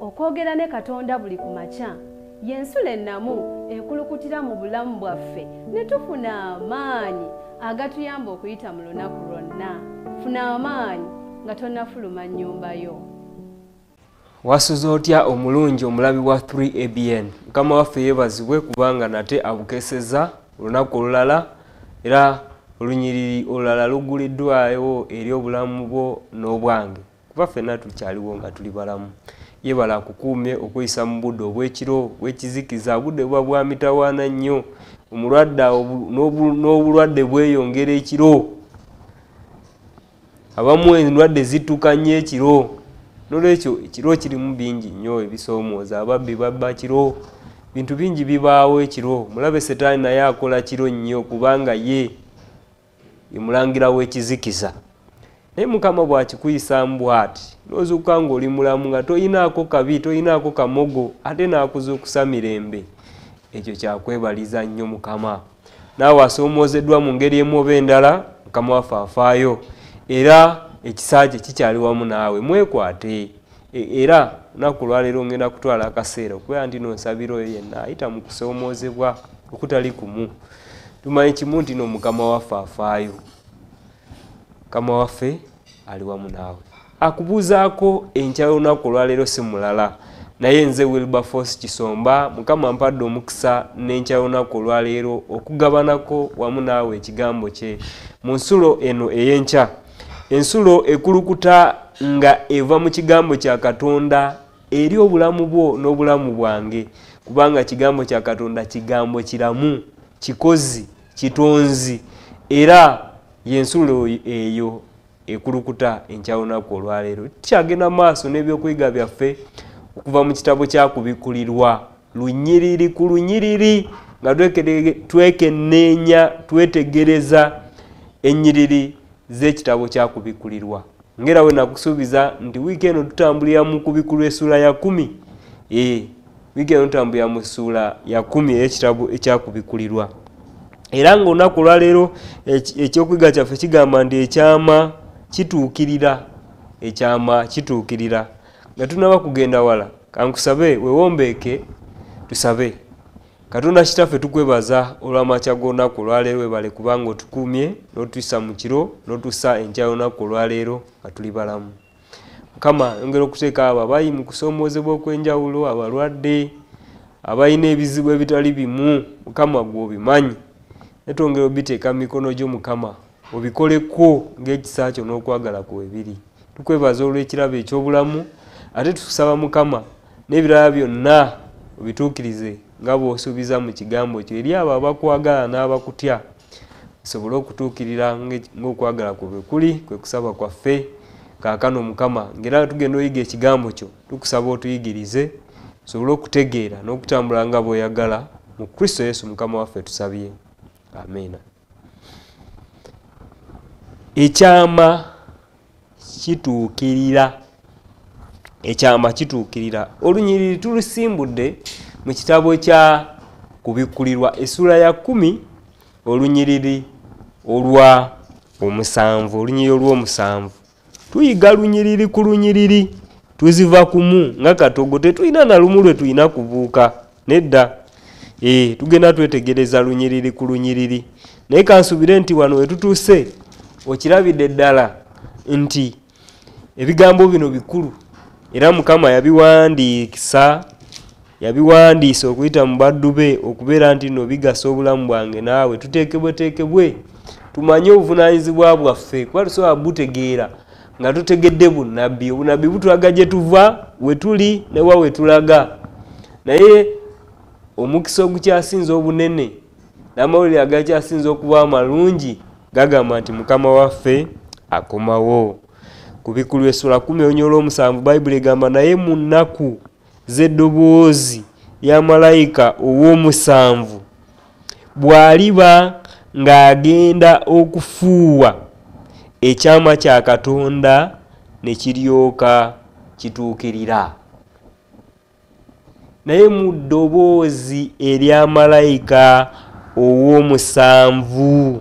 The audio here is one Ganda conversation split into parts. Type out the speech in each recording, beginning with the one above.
okwogera ne katonda buli ku makya y'ensula ennamu ekulukutira mu bulamu bwaffe ne tufuna amaanyi agatuyamba okuyita mu lunaku lwonna funa amaanyi nga tonafuluma nnyumba yo wasuze otya omulungi omulabi wa 3abn mukama waffe yebazibwe kubanga nate abukeseza olunaku olulala era olunyiriri olulala lugguliddwayo eri obulamu bwo n'obwange kuba ffenna tukyaliwo nga tuli balamu yebala akukuumye okuyisa mu budde obw'ekiro bw'ekizikiza obudde buba bwa mitawaana nnyo omulwadde n'obulwadde bweyongera ekiro abamu endwadde zituka nnyo ekiro nolwekyo ekiro kirimu bingi nnyo ebisoomooza ababbi babba kiro bintu bingi bibaawo ekiro mulabe setaani naye akola kiro nnyo kubanga ye emulangira w'ekizikiza naye mukama bw'akikuyisaamu bw'ati n'ozuuka ng'oli mulamu nga toyinaako kabi toyinaako kamogo ate n'akuzuukusa mirembe ekyo kyakwebaliza nnyo mukama naawe asoomoozeddwa mu ngeri emu oba endala mukama waffe afaayo era ekisa kye kikyali wamu naawe mwekwate e, era lunaku lwaleero ngenda kutwala akaseera okubeera nti nonsabira oyo yenna ayita mu kusoomoozebwa okutali kumu tumanyi kimu nti no mukama waffe afaayo kama waffe ali wamu naawe akubuuzaako enkya y'olunaku olwaleero si mulala naye nze wilberforce kisomba mukama mpadde omukisa n'enkya y'olunaku olwaleero okugabanako wamu naawe ekigambo kye mu nsulo eno ey'enkya ensulo ekulukuta nga eva mu kigambo kya katonda eri obulamu bwo n'obulamu bwange kubanga kigambo kya katonda kigambo kiramu kikozi kitonzi era yensulo eyo ekulukuta enkyawunaku olwaleero tukyagenda maaso n'ebyokuyiga byaffe okuva mu kitabo kyakubikulirwa lunyiriri ku lunyiriri nga twekenneenya twetegereza ennyiriri z'ekitabo kyakubikulirwa ngera we nakusuubiza nti wiiki eno tutambulira mu kubikulu essuula ya kumi ee wiiki eno tutambulira mu ssuula ya kumi eyekitabo ekyakubikulirwa era ngaolunaku olwaleero ekyokuyiga kyaffe kigamba nti ekyama kituukirira ekyama kituukirira nga tunaba kugenda wala kankusabe wewombeeke tusabe katonda kitaffe tukwebaza olw'amakya g'olunaku olwaleero webale kubanga otukuumye n'otuyisa mu kiro n'otusa enkya y'olunaku olwaleero nga tuli balamu mukama yongera okuteeka abo abayi mu kusoomoozebwa okw'enjawulo abalwadde abalina ebizibu ebitali bimu mukama gw'obimanyi netwongera obiteeka mu mikono gyo mukama obikoleko ng'ekisa kyo n'okwagala kwe biri tukwebaza olw'ekirabo eky'obulamu ate tukusaba mukama n'ebirala byonna obituukirize nga bw'osuubiza mu kigambo kyo eri abo abakwagala n'abakutya sobole okutuukirira ng'okwagala kwe bwe kuli kwe kusaba kwaffe kaakano mukama ng'era tugenda oyiga ekigambo kyo tukusaba otuyigirize sobole okutegeera n'okutambula nga bw'oyagala mu kristo yesu mukama waffe tusabye amiina ekyama kituukirira ekyama kituukirira olunyiriri tulusimbudde mu kitabo kya kubikkulirwa essula ya kumi olunyiriri olwa omusanvu olunyiriri olw'omusanvu tuyiga lunyiriri ku lunyiriri tuziva kumu nga katogo tetulina na lumu lwe tulina kubuuka nedda e, tugenda twetegereza lunyiriri ku lunyiriri naye kansubire nti wano wetutuuse okirabidde ddala nti ebigambo bino bikulu era mukama yabiwandiikisa yabiwandiisa okuyita mu baddu be okubeera nti no bigasa obulamu bwange naawe tuteekebweteekebwe tumanye obuvunanyizibwa bwaffe kuba tusobola butegeera nga tutegedde bunabbi obunabbi butulaga gye tuva wetuli newa wetulaga naye omukisa ogukyasinza obunene n'amawulire agakyasinza okuba amalungi gagamba nti mukama waffe akomawo ku bikulu esula kumi onyola omusanvu bayibuli egamba naye mu nnaku z'eddoboozi lya malayika ow'omusanvu bw'aliba ng'agenda okufuuwa ekyama kya Katonda ne kiryoka kituukirira. Naye mu ddoboozi erya malayika ow'omusanvu.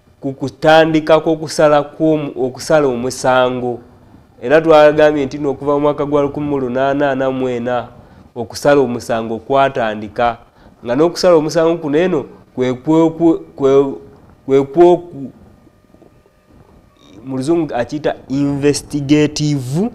ku kutandika kwokusala okusala omusango era twagambye nti nookuva mu mwaka gwa 1844 okusala omusango kwatandika nga n'okusala omusango kuno eno kwekwoku mu luzungu akiyita investigative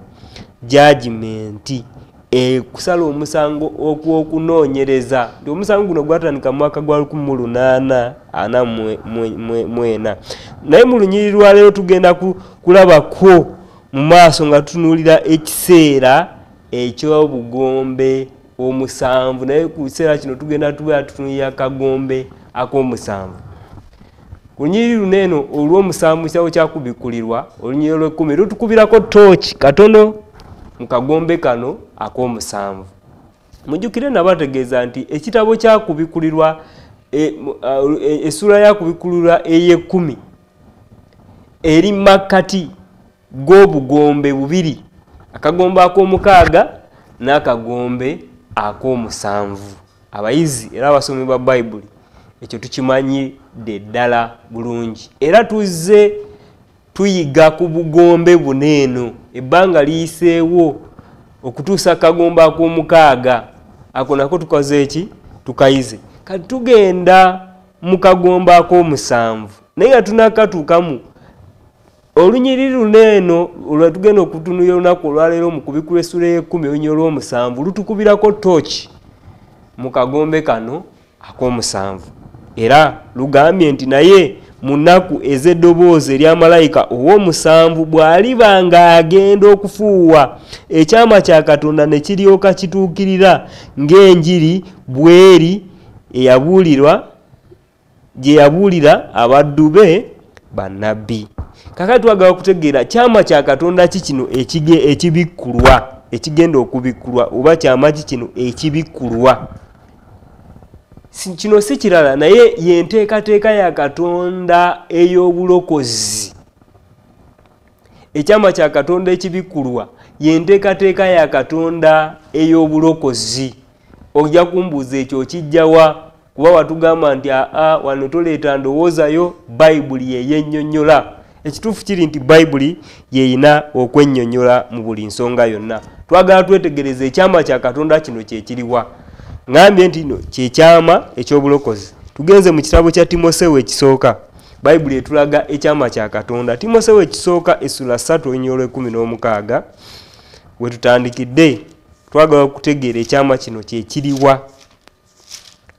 judgment ekusala omusango okwokunoonyereza nti omusango guno gwatandika mu mwaka gwa 1844 naye mu lunyiri lwaleero tugenda kulabakwo mu maaso nga tutunuulira ekiseera ekyobugombe omusanvu naye ku kiseera kino tugenda tubeera tutunulira kagombe ak'omusanvu ku lunyiriri luno eno olw'omusanvu kitawo kyakubikkulirwa olunyiriro lw'ekkumi lutukubirako tooki katono mu kagombe kano ak'omusanvu mujjukire nabategeeza nti ekitabo kyakubikkulirwa e, e, essuula yakubikkulirwa ey'ekkumi eri makkati g'obugombe bubiri akagombe ak'omukaaga n'akagombe ak'omusanvu abayizi era abasomi ba bayibuli ekyo tukimanyidde ddala bulungi era tuzze tuyiga ku bugombe buna eno ebbanga liyiseewo okutuusa akagombe ak'omukaaga ako nako tukoze eki tukayize kati tugenda mu kagombe ak'omusanvu naye nga tunakatuukamu olunyiriri luno eno lwetugenda okutunuya olunaku olwaleero mu kubikula essula ey'ekkumi olunyiri olw'omusanvu lutukubirako tooki mu kagombe kano ak'omusanvu era lugambye nti naye mu nnaku ez'eddoboozi erya malayika ow'omusanvu bw'aliba ng'agenda okufuuwa ekyama kya katonda ne kiryoka kituukirira ng'enjiri bweri eyabuulirwa gye yabuulira abaddu be bannabbi kakati twagala okutegeera kyama kya katonda ki kino ekibikkulwa ekigenda okubikkulwa oba kyama ki kino ekibikkulwa kino si kirala naye yenteekateeka ya katonda ey'obulokozi ekyama kya katonda ekibikkulwa yenteekateeka ya katonda ey'obulokozi ojja kumbuuza ekyo okijjawa kuba watugamba nti aa wano toleeta ndowoozayo bayibuli yeyennyonnyola ekituufu kiri nti bayibuli yeyina okwennyonnyola mu buli nsonga yonna twagala twetegereza ekyama kya katonda kino kyekiriwa ŋambye nti no kyekyama ekyobulokozi tugenze mu kitabo kya timosewo ekisooka bayibuli etulaga ekyama kya katonda timosewo ekisooka essula 3 olunya olwekumi n'omukaaga wetutandikidde twagala okutegeera ekyama kino kyekiriwa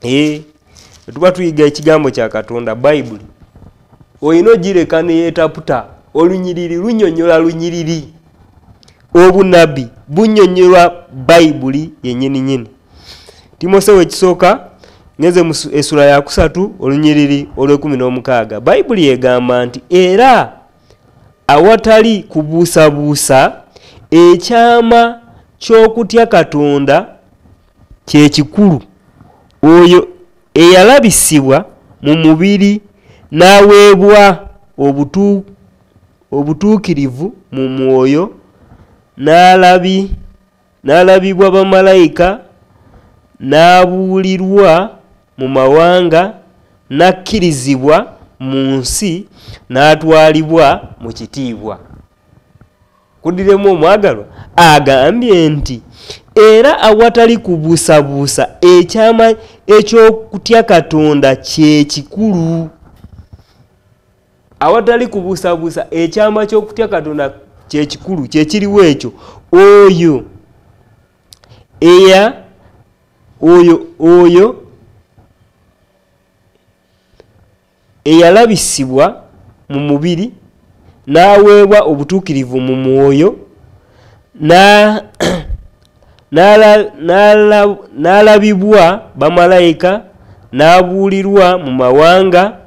eh, tuba tuyiga ekigambo kya katonda bayibuli olina ogireka neyetaputa olunyiriri lunyonyola lunyiriri obunabbi bunyonyolwa bayibuli yenyini nyini timosewo ekisooka ngenze mu esula yakusatu olunyiriri olwekumi n'omukaaga bayibuli egamba nti era awatali kubuusabuusa ekyama ky'okutya katonda kyekikulu oyo eyalabisibwa mu mubiri n'aweebwa obutuukirivu mu mwoyo n'alabibwa bamalayika n'abuulirwa mu mawanga n'akkirizibwa mu nsi n'atwalibwa mu kitiibwa. kudiremu omwagalwa agambye nti era awatali kubuusabuusa ekyama eky'okutya katonda kyekikulu awatali kubuusabuusa ekyama ky'okutya katonda kyekikulu kyekiriwo ekyo oyo eya oyo oyo eyalabisibwa mu mubiri n'aweebwa obutuukirivu mu mwoyo n'alabibwa bamalayika n'abuulirwa mu mawanga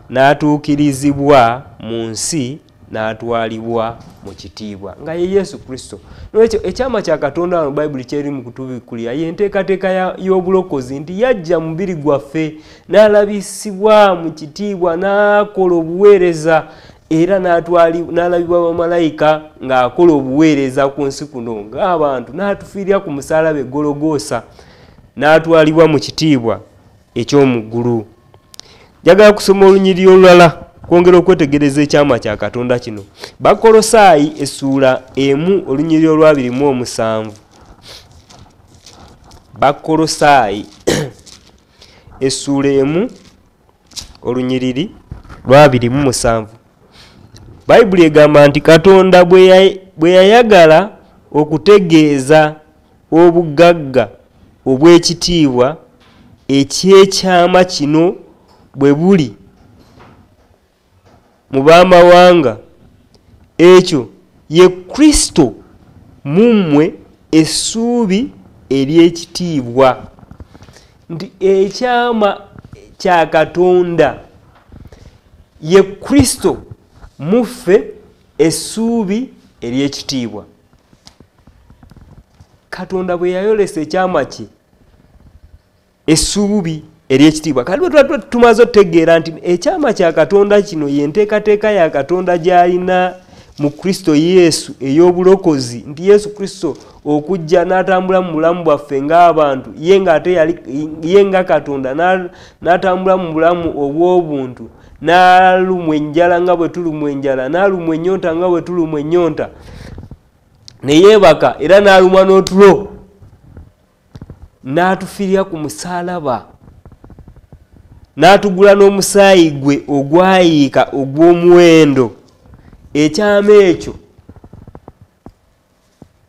n'atuukirizibwa mu nsi n'atwalibwa mu kitiibwa nga ye yesu kristo nolwekyo ekyama kya katonda wano bayibuli kyeri mu kutubikulira ye enteekateeka y'obulokozi nti yajja mubiri gwaffe n'alabisibwa mu kitiibwa n'akola obuweereza era n'alabibwa bamalayika ng'akola obuweereza ku nsi kuno ng'abantu n'atufiirira ku musalaba egologoosa n'atwalibwa mu kitiibwa eky'omu ggulu njagala kusoma olunyiriri olulala kwongera okwetegereza ekyama kya katonda kino bakolosaayi essuula emu olunyiriri olwabiri mu omusanvu bakolosaayi essuula emu olunyiriri lwabiri mu musanvu bayibuli egamba nti katonda bwe yayagala okutegeeza Obugagga obw'ekitiibwa eky'ekyama kino bwe buli mu b'amawanga, ekyo ye Kristo mu mmwe essuubi ery'ekitiibwa, nti ekyama kya Katonda ye Kristo mu ffe essuubi ery'ekitiibwa. katonda bwe yayolesa ekyama kye essuubi eryekitiibwa kati bwetuba tumaze otutegeera nti ekyama kya katonda kino ye nteekateeka ya katonda gy'alina mu kristo yesu ey'obulokozi nti yesu kristo okujja n'atambula mu bulamu bwaffe ng'abantu ye ng'ate ye nga katonda n'atambula mu bulamu obw'obuntu na n'alumwa enjala nga bwe tulumwa enjala n'alumwa ennyonta nga bwe tulumwa ennyonta ne yeebaka era n'alumwa n'otulo n'atufirira ku musaalaba n'atugula n'omusaayi gwe ogwayiika ogw'omuwendo ekyama ekyo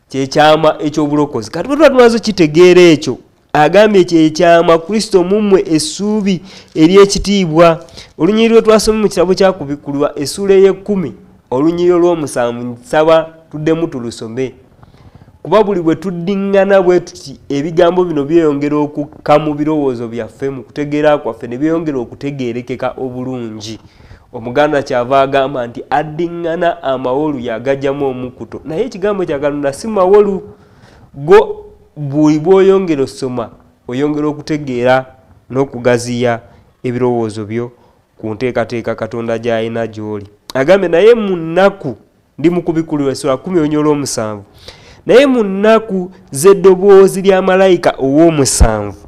kyekyama ekyobulokozi kati bwetuba tumaze okitegeera ekyo agambye kyekyama kristo mumwe essuubi eryekitiibwa olunyiri lwe twasoma mu kitabo kyakubikulwa essuula ey'ekkumi olunyiri olw'omusanvu nsaba tuddemu tulusome kuba buli bwe tuddiŋŋana bwe tuti ebigambo bino byeyongera okukka mu birowoozo byaffe mu kutegeera kwaffe ne byeyongera okutegeerekeka obulungi omuganda kyava agamba nti addiŋŋana amawolu yagajjamu omukuto naye ekigambo kyakalonda si mawolu go buli bwoyongera osoma oyongera okutegeera n'okugaziya ebirowoozo byo ku nteekateeka katonda gy'alina gy'oli agambye naye mu nnaku ndi mu kubikkulirwa essula kumi onyola omusanvu naye mu nnaku z'eddoboozi lya malayika ow'omusanvu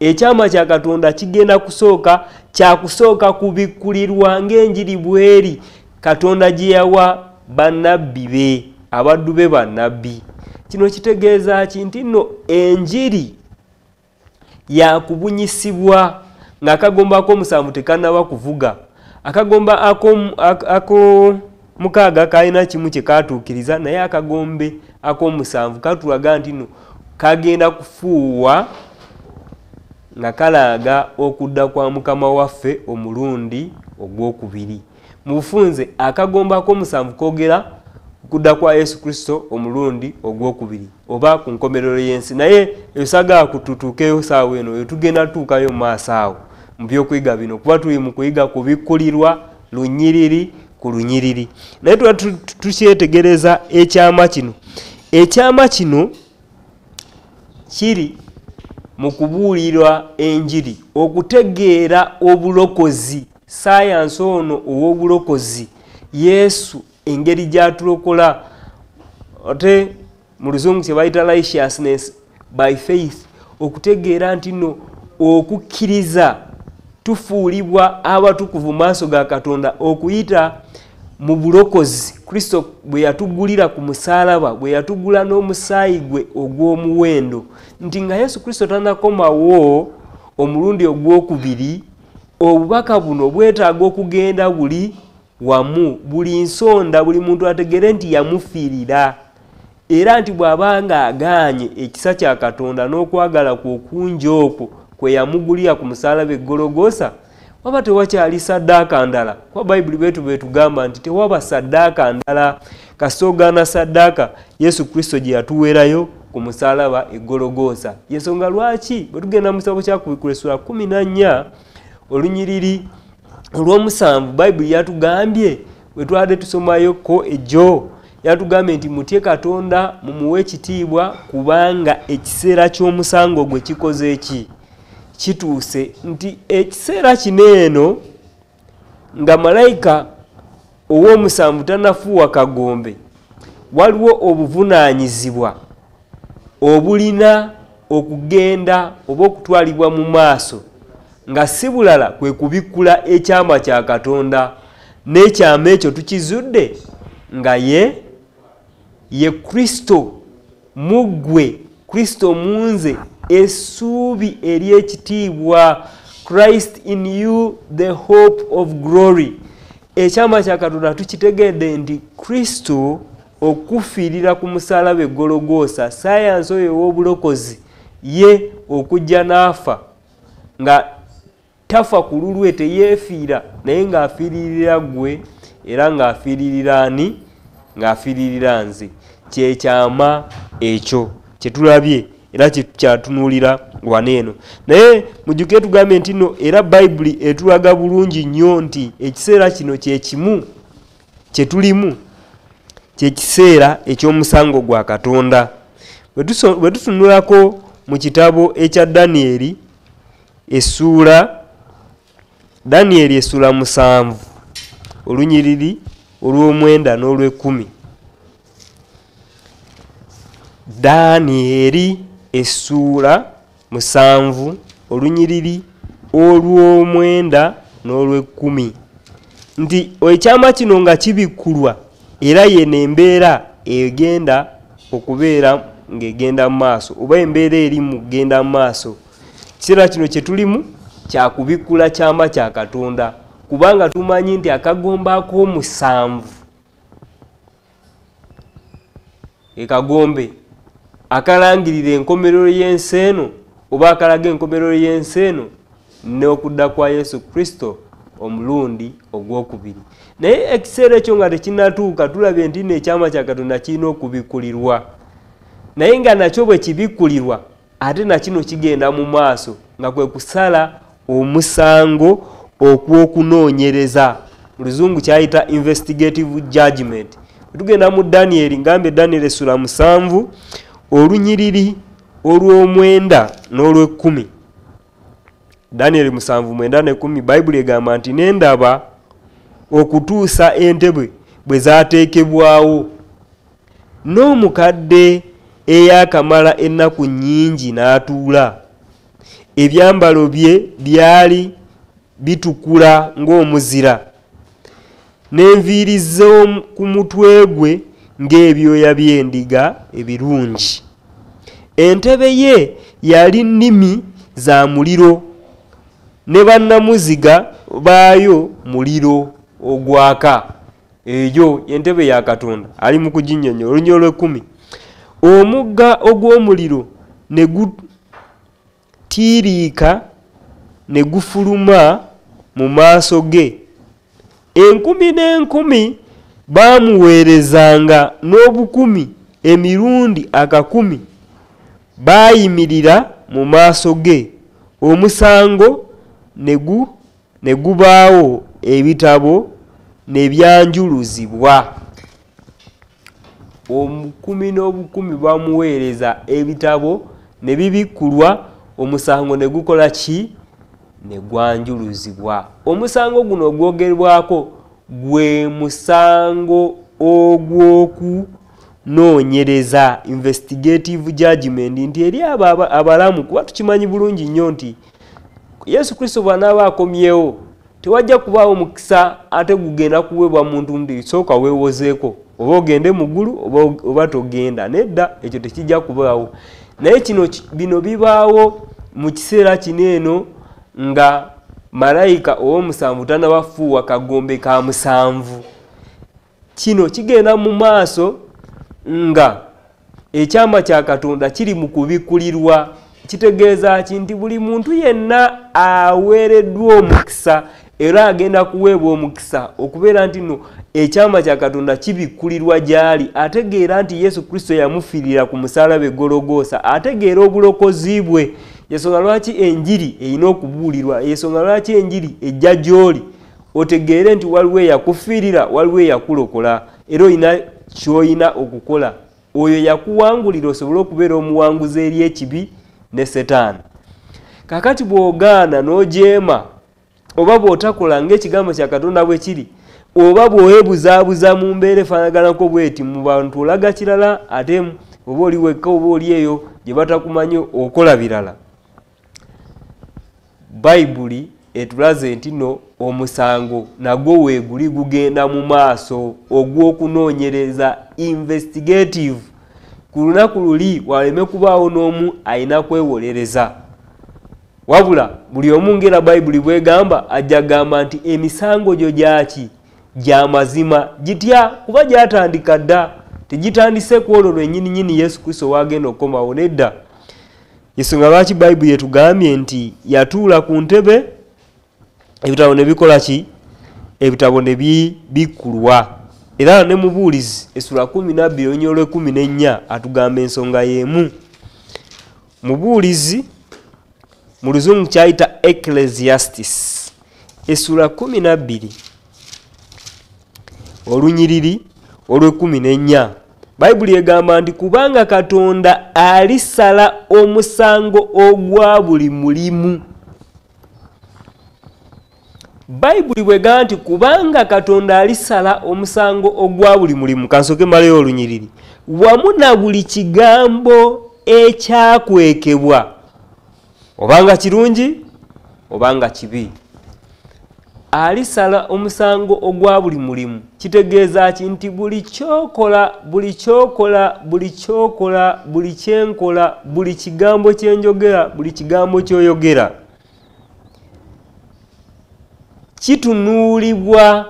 ekyama kya katonda kigenda kusooka kyakusooka kubikkulirwa ng'enjiri bweri katonda gye yawa bannabbi be abaddu be bannabbi kino kitegeeza ki nti nno enjiri yakubunyisibwa ng'akagomba ak'omusanvu tekannaba kuvuga akagomba ako mukaaga kalina kimu kye kaatuukiriza naye akagombe ak'omusanvu katulaga nti no kagenda kufuuwa nga kalaaga okudda kwa mukama waffe omulundi ogw'okubiri mu bufunze akagombe ak'omusanvu kogera okudda kwa yesu kristo omulundi ogw'okubiri oba ku nkomerero y'ensi naye esagaa kututuukeyo saawa eno etugenda tutuukayo mu maaso awo mu byokuyiga bino kuba tuli mu kuyiga kubikkulirwa lunyiriri ku lunyiriri naye tuba tukyetegereza ekyama kino ekyama kino kiri mu kubuulirwa enjiri okutegeera obulokozi sayansi ono ow'obulokozi yesu engeri gyatulokola ate mu luzungu kye bayita righteousness by faith okutegeera nti no okukkiriza tufuulibwa abatukuvu maaso ga katonda okuyita mu bulokozi kristo bwe yatugulira ku musaalaba bwe yatugula n'omusaayi gwe ogw'omuwendo nti nga yesu kristo tanakomawo omulundi ogw'okubiri obubaka buno bwetaaga okugenda buli wamu buli nsonda buli muntu ategere nti yamufiirira era nti bw'aba nga agaanye ekisa kya katonda n'okwagala kwe okungi okwo kwe yamugulira ku musaalaba eggologosa waba tewakyali saddaaka ndala kuba bayibuli betu betugamba nti tewaba saddaaka ndala kasita ogaana saddaaka yesu kristo gye yatuweerayo ku musaalaba eggologosa yensonga lwaki bwe tugenda mu kitabo kya kubikula essula kumi na nnya olunyiriri olwomusanvu bayibuli yatugambye wetwade tusomayo ko ejo yatugambye nti mutye katonda mumuwe ekitiibwa kubanga ekiseera ky'omusango gwe kikoze ki kituuse nti ekiseera kino eno nga malayika ow'omusanvu tanafuuwa kagombe waliwo obuvunaanyizibwa obulina okugenda oba okutwalibwa mu maaso nga si bulala kwe kubikkula ekyama kya katonda n'ekyama ekyo tukizudde nga ye ye kristo muggwe kristo munze essuubi ery'ekitiibwa christ in you the hope of glory ekyama kya katonda tukitegedde nti kristo okufiirira ku musalaba egologoosa sayansi oyo ew'obulokozi ye okujja n'afa nga tafa ku lulwe teyeefiira naye ng'afiiririra gwe era ng'afiiririra ani ng'afiiririra nze kyekyama ekyo kyetulabye era kyatunuulira wano eno naye mujjuke tugambye nti no era bayibuli etulaga bulungi nnyo nti ekiseera kino kyekimu kyetulimu kyekiseera eky'omusango gwa katonda bwe tutunulako mu kitabo ekya danyeri essuula danieri essuula musanvu olunyiriri olw'omwenda n'olw'ekkumi danieri essuula musanvu olunyiriri olw'omwenda n'olw'ekkumi nti ekyama kino nga kibikkulwa era yeno embeera egenda okubeera ng'egenda mu maaso oba embeera eri mu kugenda mu maaso kiseera kino kye tulimu kyakubikkula kyama kya katonda kubanga tumanyi nti akagombo ak'omusanvu ekagombe akalangirira enkomerero y'ensi eno oba akalaga enkomerero y'ensi eno n'okudda kwa yesu kristo omulundi ogwokubiri naye ekiseera ekyo nga tekinatuuka tulabye nti no ekyama kya katonda kirina okubikkulirwa naye nga nakyo bwe kibikkulirwa ate nakino kigenda mu maaso nga kwe kusala omusango okwokunoonyereza luzungu kyayita investigative judgment tugenda mu danieri ngambye danieri essula musanvu olunyiriri olw'omwenda n'olwekkumi danieri musanvu mwenda nekumi bayibuli egamba nti nendaba okutuusa entebwe bwe zateekebwawo N'omukadde eyaakamala ennaku nnyingi n'atuula, ebyambalo bye byali bitukula ng'omuzira, n'enviiri z'oku mutwe gwe ng'ebyoya by'endiga ebirungi. Entebe ye yali nnimi za muliro, ne bannamuziga baayo muliro ogwaka. eyo entebe ya katonda ali mu kuginyonyola olunyolo lwekumi omugga ogw'omuliro ne gutiiriika ne gufuluma mu maaso ge enkumi n'enkumi baamuweerezanga n'obukumi emirundi akakumi baayimirira mu maaso ge omusango ne gu ne gubaawo ebitabo ne byanjuluzibwa omukumi n'obukumi bamuweereza ebitabo ne bibikkulwa omusango ne gukola ki ne gwanjuluzibwa omusango guno ogwogerwako gwe musango ogw'oku noonyereza investigative judgment nti eri abo abalamu kuba tukimanyi bulungi nnyo nti yesu kristo bw'anaaba akomyewo tewajja kubaawo mukisa ate gugenda kuweebwa muntu mubiri sooka weewozeeko oba ogende mu ggulu oba togenda nedda ekyo tekijja kubaawo naye kino bino bibaawo mu kiseera kino eno nga malayika ow'omusanvu tanabafuuwa kagombe ka musanvu kino kigenda mu maaso nga ekyama kya katonda kiri mu kubikkulirwa kitegeeza ki nti buli muntu yenna aweereddwa omukisa era agenda kuweebwa omukisa okubeera nti no ekyama kya katonda kibikkulirwa gy'ali ategeera nti yesu kristo yamufiirira ku musalaba egologoosa ategeera obulokozi bwe yensonga lwaki enjiri erina okubuulirwa yensonga lwaki enjiri ejja gy'oli otegeere nti waliwo eyakufiirira waliwo eyakulokola era olina kyolina okukola oyo yakuwangulira osobole okubeera omuwanguzi eri ekibi ne setaani kakati bwogaana nojeema oba bwotakola ngaekigambo kya katonda bwe kiri oba bwewebuzaabuza mu mbeera efaanaganako bweti mu bantu olaga kirala ate oba oli wekka oba oli eyo gye batakumanyi okola birala bayibuli etulaze nti no omusango nagwo weeguli gugenda mu maaso ogw'okunoonyereza investigative ku lunaku luli waleme kubaawo n'omu alina kwewolereza wabula buli omu ngaera bayibuli bwegamba ajja gamba nti emisango gyo gyaki gya mazima gitya kuba gyatandika dda tegitandise ku olwo lwenyini nyini yesu kristo waagenda okukomawo nedda yensonga lwaki bayibuli etugambye nti yatuula ku ntebe ebitabo ne bikola ki ebitabo ne bibikkulwa era ne mubuulizi esula kumi nabbi olunya olwekumi nennya atugamba ensonga y'emu mubuulizi mu luzungu kyayita ecclesiastis esula kumi nabbiri olunyiriri olwekumi nennya bayibuli egamba nti kubanga katonda alisala omusango ogwa buli mulimu bayibuli bwegamba nti kubanga katonda alisala omusango ogwa buli mulimu kansoke malayo olunyiriri wamu na buli kigambo ekyakwekebwa obanga kirungi obanga kibi alisala omusango ogwa buli mulimu kitegeeza ki nti buli kyokola buli kyokola buli kyokola buli kyenkola buli kigambo kyenjogera buli kigambo kyoyogera kitunuulibwa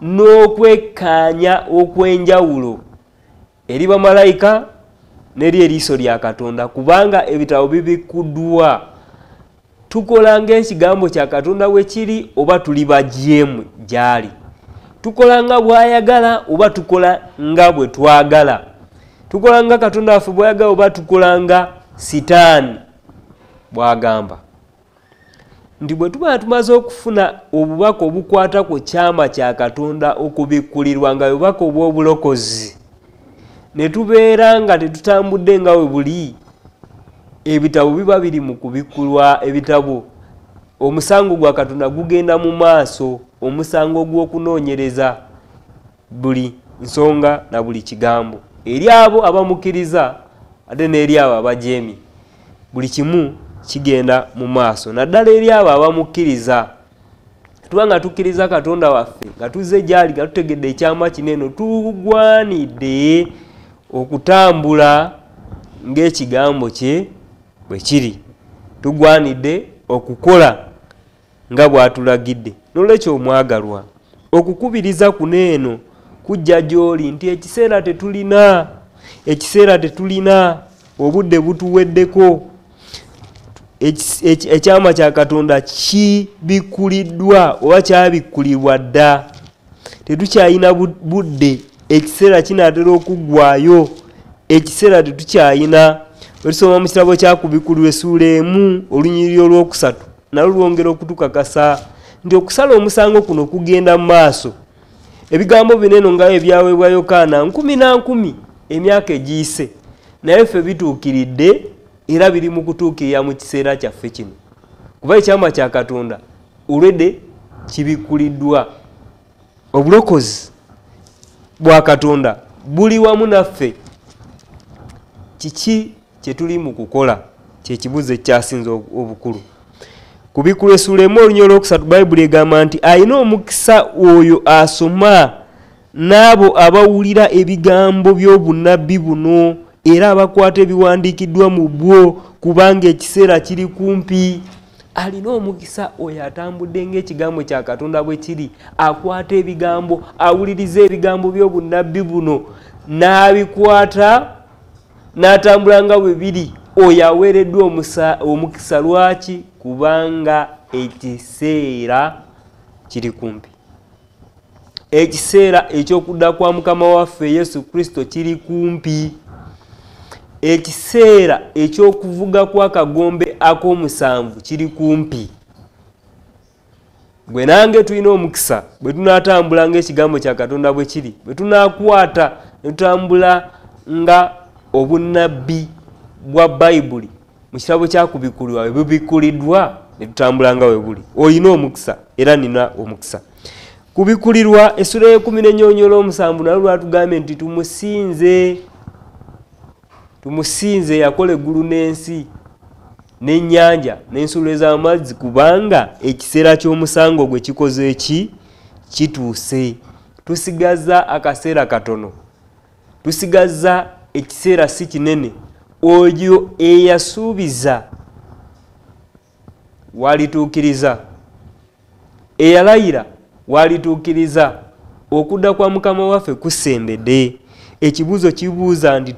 n'okwekkaanya okw'enjawulo eri bamalayika neri eriiso lya katonda kubanga ebitabo bibikkuddwa tukola ngaekigambo kya katonda bwe kiri oba tuli bagyemu gyali tukola nga bwayagala oba tukola nga bwe twagala tukola nga katonda waffe bwayagala oba tukola nga sitaani bwagamba nti bwe tuba tumaze okufuna obubaka obukwata ku kyama kya katonda okubikkulirwa nga bubaka obw'obulokozi ne tubeera nga tetutambudde nga we buli ebitabo biba biri mu kubikkulwa ebitabo omusango gwa katonda gugenda mu maaso omusango ogw'okunoonyereza buli nsonga na buli kigambo eri abo abamukkiriza ate n'eri abo abajeemi buli kimu kigenda mu maaso naddala eri abo abamukkiriza tuba nga tukkiriza katonda waffe nga tuzze gyali nga tutegedde ekyama kino eno tugwanidde okutambula ng'ekigambo kye bwe kiri tugwanidde okukola nga bw'atulagidde nolwekyo omwagalwa okukubiriza kuno eno kujja gy'oli nti ekiseera tetulina ekiseera tetulina obudde butuweddeko ekyama kya katonda kibikkuliddwa oba kyabikkulibwa dda tetukyalina budde ekiseera kinaatera okuggwayo ekiseera tetukyalina olisoma mu kitabo kyakubikkulirwa esuula emu olunyiriri olwokusatu nalo lwongera okutukakasa nti okusala omusango kuno kugenda mu maaso ebigambo bino eno ngayo ebyaweebwa yokaana nkumi na nkumi emyaka egiyise naye ffe bituukiridde era biri mu kutuukirira mu kiseera kyaffe kino kuba ekyama kya katonda olwedde kibikkuliddwa obulokozi bwa katonda buli wamu naffe kiki kyetuli mu kukola kyekibuzo ekyasinze obukulu kubikula esula emu olunya olwokusatu bayibuli egamba nti alina omukisa oyo asoma n'abo abawulira ebigambo by'obunabbi buno era abakwata ebiwandiikiddwa mu bwo kubanga ekiseera kiri kumpi alina omukisa oyo atambudde ng'ekigambo kya katonda bwe kiri akwata ebigambo awuliriza ebigambo by'obunabbi buno n'abikwata n'atambula nga bwe biri oyo aweereddwa omukisa lwaki kubanga ekiseera kiri kumpi ekiseera eky'okudda kwa mukama waffe yesu kristo kiri kumpi ekiseera eky'okuvuga kw'akagombe ak'omusanvu kiri kumpi gwe nange tulina omukisa bwe tunatambula ngaekigambo kya katonda bwe kiri bwe tunakwata ne tutambula nga obunnabbi bwa bayibuli mu kirabo kyakubikulirwa we bubikuliddwa ne tutambula nga we buli olina omukisa era nina omukisa kubikulirwa essula yekumi nenyonyola omusanvu nalwo lwatugambye nti tumusinze tumusinze yakola eggulu n'ensi n'ennyanja n'ensulo ez'amazzi kubanga ekiseera ky'omusango gwe kikoze ki kituuse tusigaza akaseera katono tusigaza ekiseera si kinene oyo eyasuubiza walituukiriza eyalayira walituukiriza okudda kwa mukama waffe kusembedde ekibuuzo kibuuza nti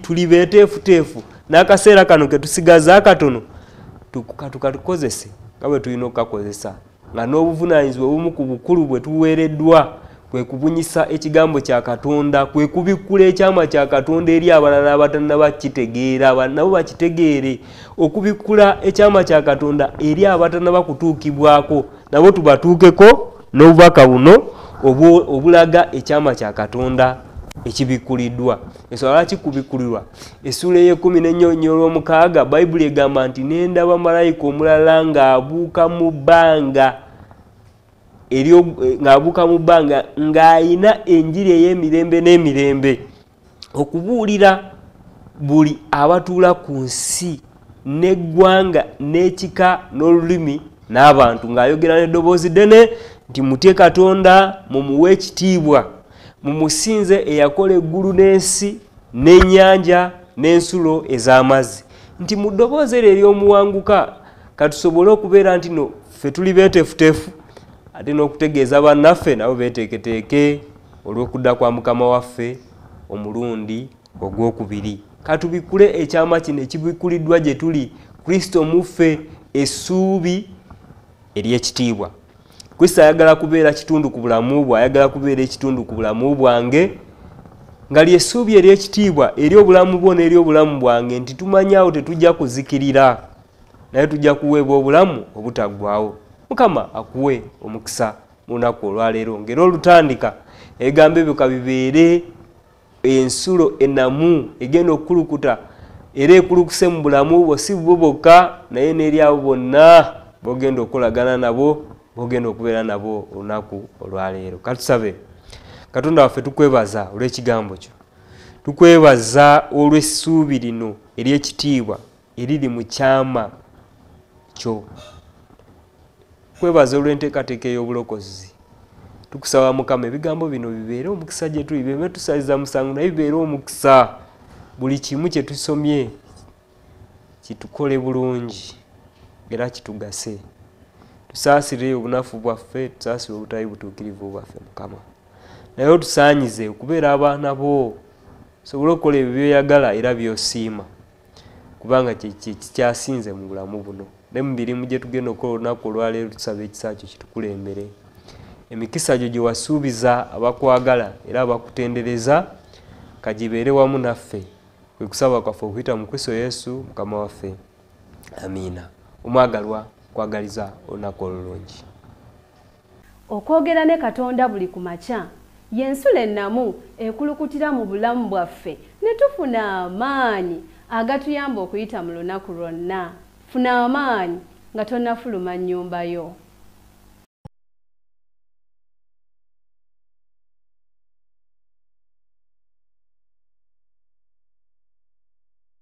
tuli beteefuteefu n'akaseera kano ketusigaza akatono tukatukakozese nga bwe tulina okukakozesa nga n'obuvunaanyizibwa obumu ku bukulu bwe tuweereddwa kwe kubunyisa ekigambo kya katonda kwe kubikkula ekyama kya katonda eri abalala abatanna bakitegeera nabo bakitegeere okubikkula ekyama kya katonda eri abatanna bakutuukibwako nabo tubatuukeko n'obubaka buno obulaga ekyama kya katonda ekibikkuliddwa ensonga lwaki kubikkulirwa essuula ey'ekkumi n'ennyonyi olw'omukaaga bayibuli egamba nti n'endaba malayika omulala ng'abuuka mu bbanga eh, ng'abuuka mu bbanga ng'ayina enjiri ey'emirembe n'emirembe okubuulira buli abatuula ku nsi n'eggwanga n'ekika n'olulimi n'abantu ng'ayogera n'eddoboozi ddene nti mutye katonda mumuwe ekitiibwa mumusinze eyakola eggulu n'ensi n'ennyanja n'ensulo ez'amazzi nti mu ddoboozi eryo ery'omuwanguka katusobole okubeera nti no ffe tuli beetefutefu ate n'okutegeeza bannaffe nabo beeteeketeeke olw'okudda kwa mukama waffe omulundi ogw'okubiri katubikkule ekyama kino ekibikkuliddwa gye tuli kristo muffe essuubi ery'ekitiibwa kristo ayagala kubeera kitundu ku bulamu bwe ayagala kubeera ekitundu ku bulamu bwange nga lyesuubi eryekitiibwa eri obulamu bwo n'eri obulamu bwange nti tumanyaawo tetujja kuzikirira naye tujja kuweebwa obulamu obutaggwawo mukama akuwe omukisa mu lunaku olwaleero ngaera olutandika ebigambo ebyo kabibeere ensulo enamu egenda okukulukuta era ekulukuse mu bulamu bwo si bwo bokka naye n'eri abo bonna bogenda okukolagana nabo bogenda okubeera nabo olunaku olwaleero katusabe katonda waffe tukwebaza olw'ekigambo kyo tukwebaza olw'essuubi lino ery'ekitiibwa eriri mu kyama kyo kwebaza olw'enteekateeka ey'obulokozi tukusaba mukama ebigambo bino bibeere omukisa gye tuli bebe tusaliza musango naye bibeere omukisa buli kimu kye tusomye kitukole bulungi era kitugase tusaasire obunafu bwaffe tusaasire obutali butuukirivu bwaffe mukama naye otusaanyize okubeera abaana bo osobole okukola ebyo byoyagala era byosiima kubanga kyekikyasinze mu bulamu buno ne mu mirimu gye tugenda okukola olunaku olwaleero tusaba ekisa kyo kitukulembere emikisa gyo gye wasuubiza abakwagala era abakutendereza kagibeere wamu naffe kwe kusaba kwaffe okuyita mu kristo yesu mukama waffe amiina omwagalwa kwagaliza olunaku olulungi Okwogera ne Katonda buli ku makya y'ensulo ennamu ekulukutira mu bulamu bwaffe ne tufuna amaanyi agatuyamba okuyita mu lunaku lwonna. Funa amaanyi nga tonnafuluma nnyumba yo.